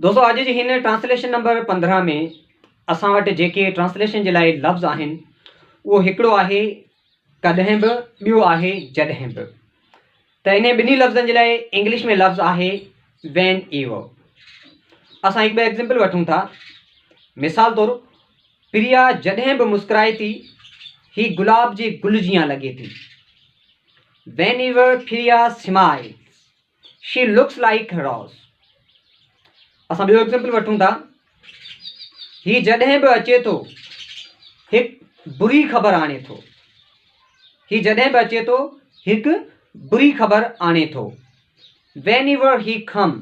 دوستو اڄ جي هن ٽرانسليشن نمبر پندرهن ۾ اسان وٽ جيڪي ٽرانسليشن جي لاء لفظ آهن اهو هڪڙو آهي ڪڏهن به ٻيو آهي جڏهن به ته انهي ٻنهي لفظن جي لاء انگلش ۾ لفظ آهي وين ايور اسان هڪ ٻه ايگزامپل وٺون ٿا مثال طور پريا جڏهن به مسڪرائي ٿي هي گلاب جي گل جيان لڳي ٿي وين ever Priya smiles she looks like her house اسان ٻيو ايگزيمپل وٺون ٿا هي جڏهن به اچي ٿو هڪ بري خبر آڻي ٿو هي جڏهن به اچي ٿو هڪ بري خبر آڻي ٿو whenever he come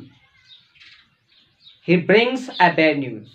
he brings a bad news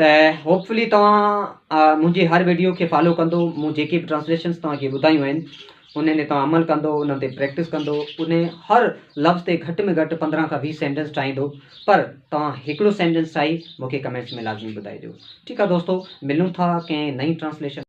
ته هوپفلي توهان منهنجي هر ويڊيو کي فالو ڪندو مون جيڪي به ٽرانسليشنس توهان کي ٻڌايون آهن انهن تي توهان عمل ڪندو انهن تي پريڪٽس ڪندو ان هر لفظ تي گهٽ ۾ گهٽ پندرهن کان ويهه سينٽنس ٺاهيندو پر توهان هڪڙو سينٽنس ٺاهي مونکي ڪمينٽس ۾ لازمي ٻڌائجو ٺيڪ آهي دوستو ملون ٿا ڪنهن نئين ٽرانسليشن